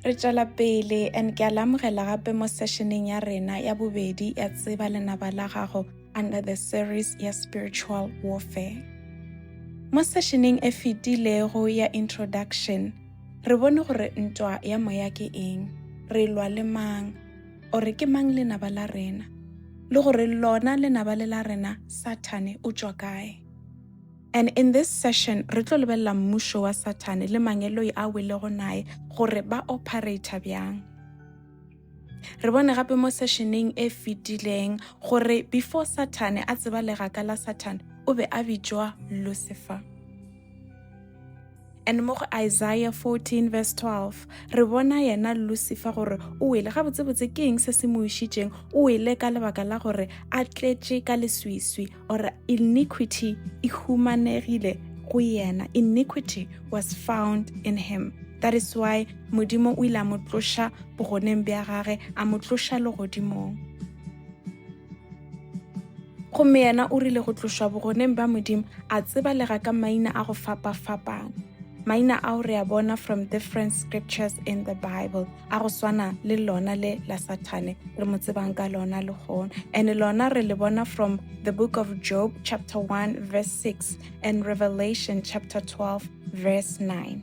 Re tšwela pele and ke a le amogela gape mo sessioneng ya rena ya bobedi ya tseba lenaba la gago under the series ya spiritual warfare. Mo sessioneng e fetilego ya introduction re bone gore ntwa ya moya ke eng, re lwa le mang, ore ke mang lenaba la rena, le gore lona lenaba le la rena Sathane o tšwa kae. And in this session, re tlo lebelela mmušo wa Sathane le mangeloi a welego nae gore ba operator bjang. Re bone gape mo sessioneng e fetileng gore before Sathane a tseba legaka la Sathane, o be a bitšwa Lucifer. and mo go Isaiah 14 verse 12 re bona yena Lucifer gore o wele ga botsebotse ke eng se se mo išitšeng o wele ka lebaka la gore a tletše ka leswiswi or iniquity e humanegile go yena iniquity was found in him that is why modimo o ile a mo tloša bogoneng bja gage a mo tloša legodimong gomme yena o rile go tlošwa bogoneng ba modimo a tsebalega ka maina a go fapa-fapana maina ao re a bona from different scriptures in the bible a go swana le lona le la sathane re mo tsebang ka lona le gona and lona re le bona from the book of job chapter 1 verse 6 and revelation chapter 12 verse 9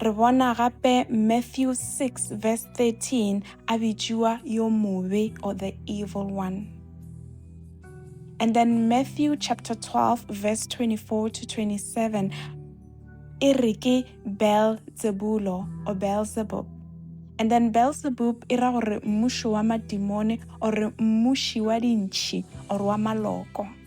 Re bona gape Matthew 6 verse 13 a bitšiwa yo mobe or the evil one. And then Matthew chapter 12 verse 24 to 27 e re ke Beelzebulo or Beelzebub. And then Beelzebub e ra gore mmušo wa madimone or mmuši wa dintšhi or wa maloko.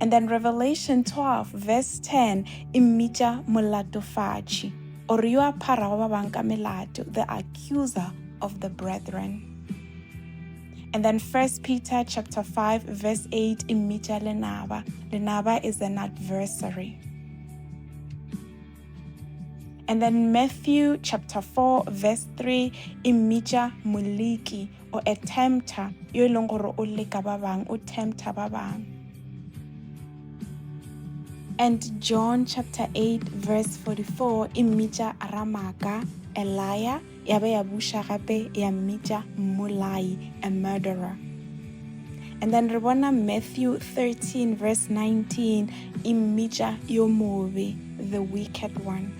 And then Revelation 12 verse 10 e mmitša molatofatši or yo a pharago ba bang ka melato, the accuser of the brethren. And then First Peter chapter 5 verse 8 e mmitša lenaba. Lenaba is an adversary. And then Matthew chapter 4 verse 3 e mmitša moliki o a tempter yo e leng gore o leka ba bang o tempter ba bang and john chapter 8 verse 44 e mmitša ramaka a liar ya be ya buša gape ya mmitša mmolai a murderer and then re bona matthew 13 verse 19 e mmitša yo mobe the wicked one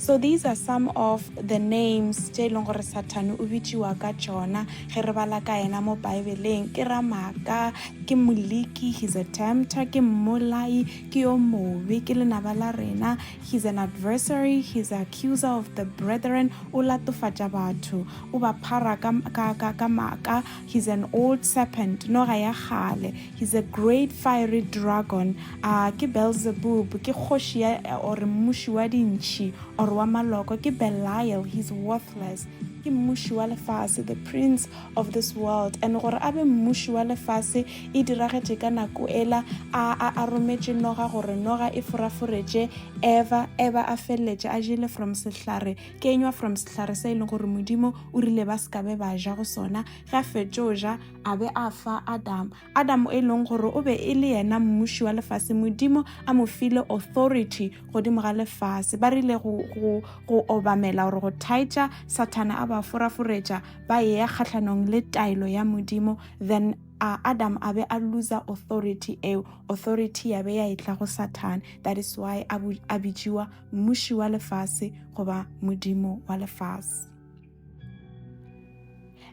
So these are some of the names tše e leng gore sathane o bitšiwa ka tšona ge re bala ka yena mo baebeleng ke ramaka ke moliki he's a tempter ke mmolai ke yo mobe ke lenaba la rena he's an adversary he's an accuser of the brethren o latofatša batho o ba phara ka, ka, ka, ka maka he's an old serpent noga ya kgale He's a great fiery dragon, a ke Beelzebub, ke kgoši ya or mmuši wa dintšhi or wa maloko, ke Belial, he's worthless, ke mmuši wa lefase, the prince of this world, and gore a be mmuši wa lefase e diragetše ka nako ela a a a rometše noga gore noga e foraforetše Eva, Eva a feleletše a jele from sehlare kenywa from sehlare se e leng gore Modimo o rile ba se ka be ba ja go sona, ge a fetšo ja a be a fa Adam. Adam e leng gore o be e le yena mmuši wa lefase modimo a mo file authority godimo ga lefase ba rile go, go, go obamela gore go thaetša sathana a ba foraforetša ba eya kgatlhanong le taelo ya modimo then uh, adam a be a loser authority eo authority ya be ya etla go sathane that is why a bitšiwa mmuši wa lefase goba modimo wa lefase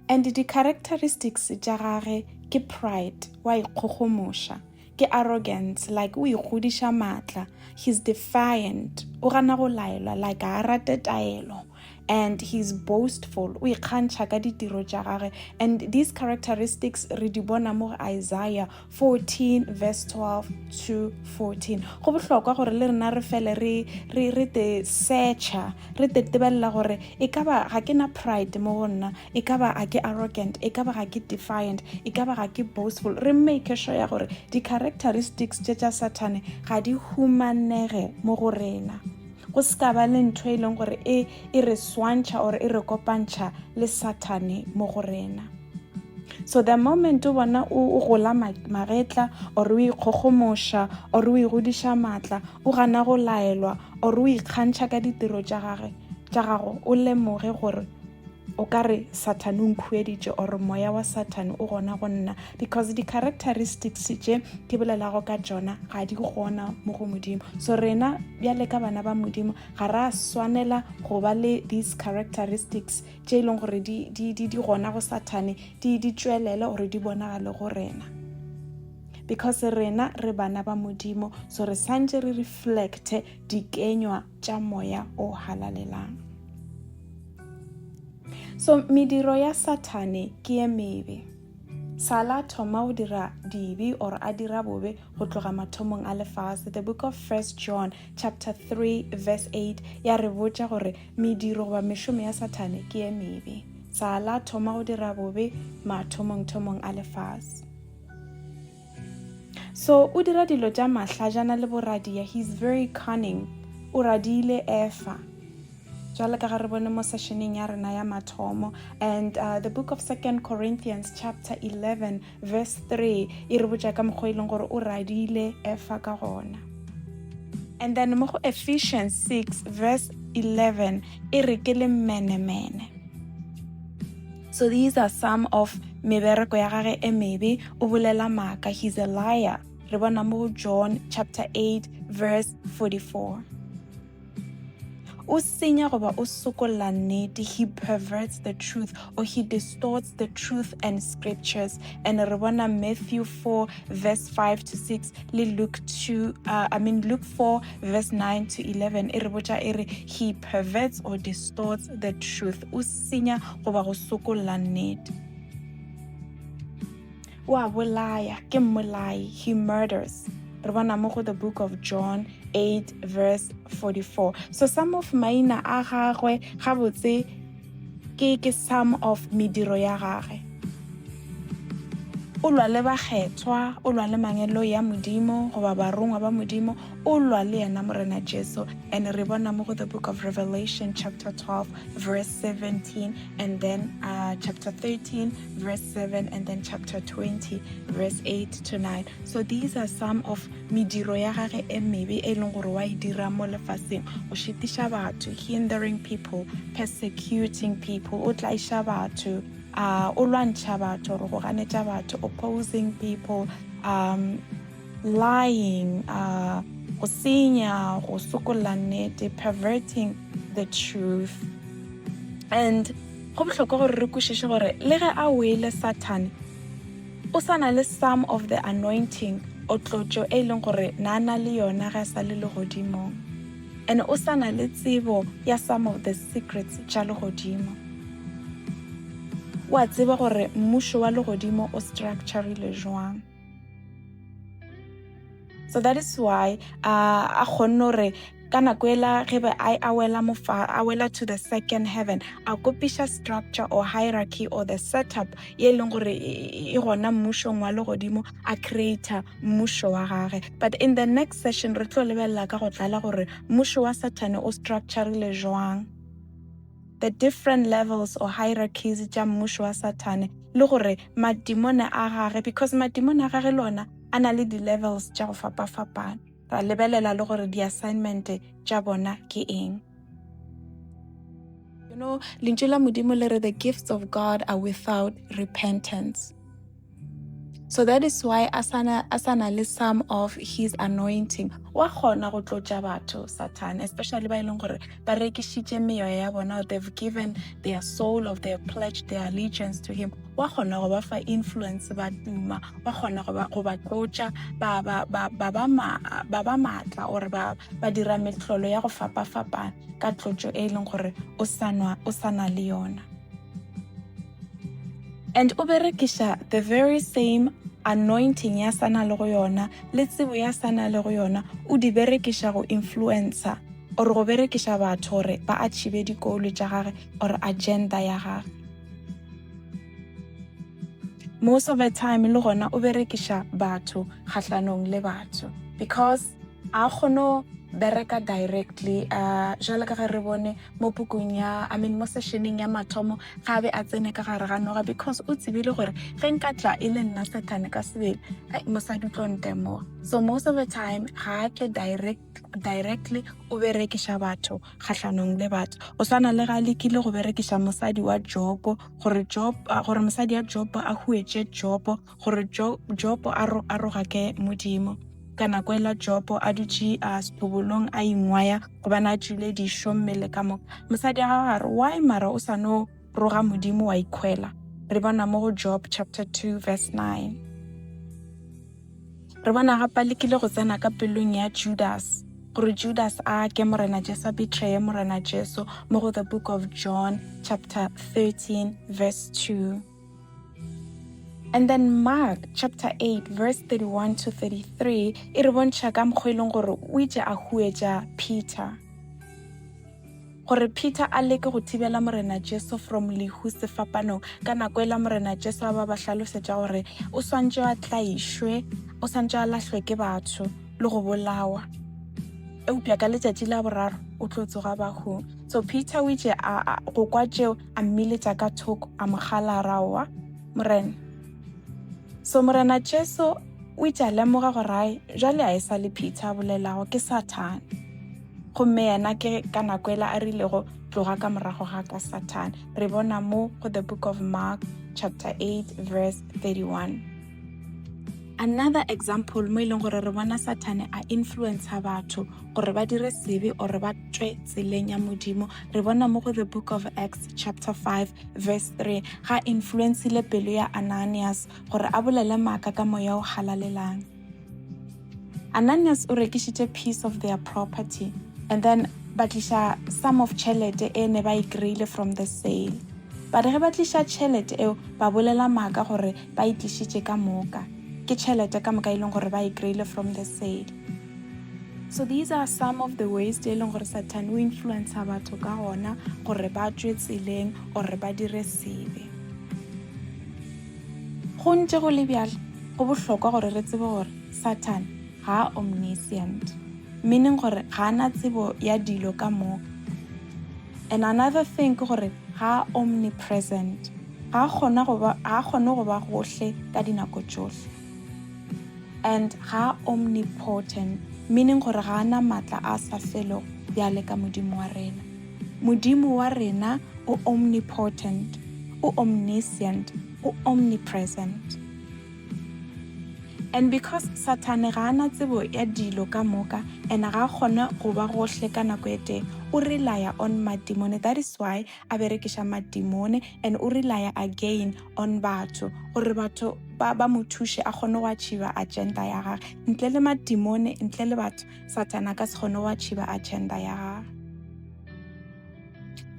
and di characteristics tša gage ke pride wa ikgogomoša ke arrogance like o ikgodiša maatla he's defiant o gana go laelwa like a rate taelo and he's boastful o ikgantšha ka ditiro tša gage and these characteristics re di bona mo isaiah 14 verse 12 to 14 go bohlokwa gore le rena re fele re re re te searcha re te tebelela gore e ka ba ga ke na pride mo go nna e ka ba ga ke arrogant e ka ba ga ke defiant e ka ba ga ke boastful re make sure ya gore di-characteristics tše tša sathane ga di humanege mo go rena Go se ka ba le ntho e leng gore e e re swantšha or e re kopantšha le Sathane mo go rena. So the moment o bona o gola magetla or o ikgokgomoša or o igodiša maatla, o gana go laelwa or o ikgantšha ka ditiro tša gage tša gago, o lemoge gore O ka re Sathane o nkhueditše or moya wa Sathane o gona go nna because di-characteristics tše ke bolelago ka tšona ga di gona mo go Modimo. So rena bjale ka bana ba Modimo ga ra swanela go ba le these characteristics tše e leng gore di, di, di, di gona go Sathane di, di tšwelele gore di bonagale go rena because rena re bana ba modimo so re santse re reflecte dikenywa tša moya o halalelang so mediro ya sathane ke ye mebe sala thoma o dira dibe or a dira bobe go tloga mathomong a lefase the book of first john chapter 3 verse 8 ya re botša gore mediro goba mešomo ya sathane ke ye mebe sala thoma go dira bobe mathomongthomong a lefase so o dira dilo tša mahlajana le boradia he's very cunning o radiile efa jwale ka ga re bone mo sessioneng ya rena ya mathomo and uh, the book of second corinthians chapter 11 verse 3 e re botša ka mokgwa e leng gore o radiile efa ka gona and then mo go ephesians 6 verse 11 e re ke le menemene So these are some of mebereko ya gage e mebe, o bolela maaka, he's a liar. Re bona mo go John chapter 8 verse 44. O senya goba o sokolla nnete, he perverts the truth or he distorts the truth and scriptures. And re bona Matthew 4 verse 5 to 6 le Luke 2 uh, I mean Luke 4 verse 9 to 11 e re botša e re he perverts or distorts the truth. O senya goba go sokolla nnete. O a bolaya, ke mmolai, he murders. Re bona mo go the book of John 8 verse 44. So some of maina a gagwe gabotse ke ke some of mediro ya gage. O lwa le bakgethwa, o lwa le mangelo ya Modimo goba barongwa ba Modimo, o lwa le yena morena jesu and re bona mo go the book of revelation chapter 12 verse 17 and then uh, chapter 13 verse 7 and then chapter 20 verse 8 to 9 so these are some of mediro ya gage e mebe e leng gore wa e dira mo lefaseng o šitiša batho hindering people persecuting people o tlaiša batho uh, o lwantšha batho gore go ganetša batho opposing people um, lying, uh, go senya go sokolla nnete perverting the truth and go bohlokwa gore re kwešiše gore le ge a wele sathane o sa na le some of the anointing o tlotšo e leng gore na na le yona ga sa le legodimong and o sa na le tsebo ya some of the secrets tša legodimo wa tseba gore mmušo wa legodimo o structurile jwang so that is why uh, a kgonne gore ka nako ela ge be a a wela mofa a wela to the second heaven a kopiša structure or hierarchy or the setup ye e leng gore e gona mmušong wa legodimo a creator mmušo wa gage but in the next session re tlo lebelela ka go tlala gore mmušo wa sathane o structurile jwang the different levels or hierarchies tša mmušo wa sathane le gore madimone a gage because madimone a gage le ona a na le di-levels tša go fapafapana ra lebelela le gore di-assignment tša bona ke eng you know lentšu la modimo le re the gifts of god are without repentance so that is why a sana a sana le some of his anointing wa gona go tlotša batho satan especially ba e leng gore ba rekišitše meyoya ya bona they've given their soul of their pledge their allegiance to him wa gona go ba fa influence ba tuma wa gona go ba tlotša ba ba maatla or ba ba dira metlolo ya go fapa-fapana ka tlotšo e e leng gore o sana le yona and o berekiša the very same anointing ya sana le go yona le tsebo ya sana le go yona o di berekiša go influencer or go berekiša batho gore ba achieve dikolo tša gage or agenda ya gage most of the time le gona o berekiša batho kgahlanong le batho because a kgono bereka directly uh, jalo ka ge re bone mo pukung ya i mean mo sessioneng ya mathomo ga be a tsene ka gare ga noga because o tsebile gore ge nka tla e le nna satane ka sebele mosadi tlo ntemoga so most of the time ga a tle direct directly o berekiša batho kgatlhanong le batho o swana le ga a lekile go berekiša mosadi wa jopo gore job gore mosadi ya jopo a huetse jopo gore jopo a roga ke modimo ka nako e la jopo a dutše a setobolong a ingwaya gobane a tšile dišo mmele ka moka mosadi a gago a re why mara o sa no roga modimo wa ikhwela re bona mo go job chapter 2 verse 9 re bona gapa le kile go tsena ka pelong ya judas gore judas a ke morena jesu a betraye morena jesu mo go the book of john chapter 13 verse 2 And then Mark chapter 8 verse 31 to 33 e re bontšha ka mokgwa e leng gore o itše a huetša Peter gore Peter a leke go thibela Morena Jesu from lehu sefapanong ka nako e la Morena Jesu a ba ba hlalosetša gore o swantše a tlaišwe o swantše a lahlwe ke batho le go bolawa eupša ka letšatši la boraro o tlo tsoga bahong so Peter o itše go kwa tšeo a mmiletša ka thoko a mo gala ra oa morena so morena jesu o itše a lemoga gorae jale a e sa le peter a bolelago ke sathane gomme yena ke ka nako ela a rilego tloga ka morago ga ka sathane re bona mo go the book of mark chapter 8 verse 31 another example mo e leng gore re bona sathane a influencer batho gore ba dire sebe or ba tswe tseleng ya modimo re bona mo go the book of acts chapter 5 verse 3 ga influencile pelo ya ananias gore a bolele maaka ka moya o halalelang Ananias o rekišitše piece of their property and then ba tliša some of tšhelete e ne ba e kry-ile from the sale ba re ge ba tliša tšhelete eo ba bolela maaka gore ba e tlišitše ka moka ke tšhelete ka moka e leng gore ba e kry-ile from the sale so these are some of the ways tse e leng gore satan o influencer batho ka gona gore ba tswe tseleng or ba dire sebe Go ntše go le bjalo, go bohlokwa gore re tsebe gore Sathane ga a omniscient, meaning gore ga a na tsebo ya dilo ka moka. And another thing ke gore ga a omnipresent, ga a kgona go ba ga a kgone go ba gohle ka dinako tšohle. And ga a omnipotent, meaning gore ga a na matla a sa felego bjale ka Modimo wa rena. Modimo wa rena o omnipotent, o omniscient, o omnipresent. And because Sathane ga a na tsebo ya dilo ka moka and ga a kgone go ba gohle ka nako e tee, o relaya on madimone. That is why a berekiša madimone and o relaya again on batho gore batho ba, ba mo thuše a kgone go achieva agenda ya gage. Ntle le madimone, ntle le batho, Satana ka se kgone go achiba agenda ya ga.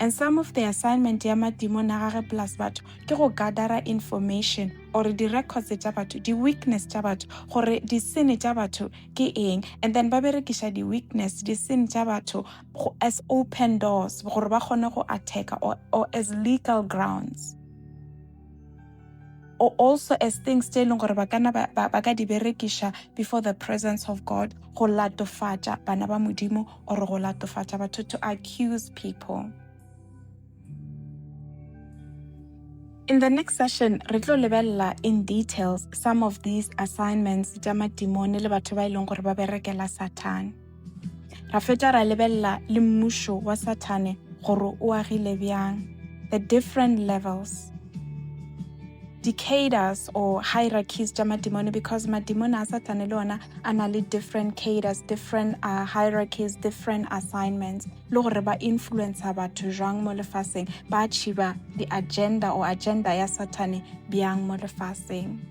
And some of the assignment ya madimo na gage plus batho ke go gathera information or di-records tša batho di-weakness tša batho gore disene tša batho ke eng and then ba berekiša di-weakness disene tša batho as open doors gore ba kgone go attacka or, or as legal grounds or also as things tse e leng gore ba kana ba, ba, ba ka di berekiša before the presence of god go latofatša bana ba modimo or go latofatša batho to accuse people In the next session, re tlo lebelela in details some of these assignments tša matimone le batho ba e leng gore ba berekela Satan. ra feta ra lebelela le mmušo wa sathane gore o agile bjang the different levels di-caders or hierarchies tša madimone because madimone a satane le ona a na le different caders different uh, hierarchies different assignments le gore ba influencer batho jwang mo lefaseng ba achieva di-agenda or agenda ya satane bjang mo lefaseng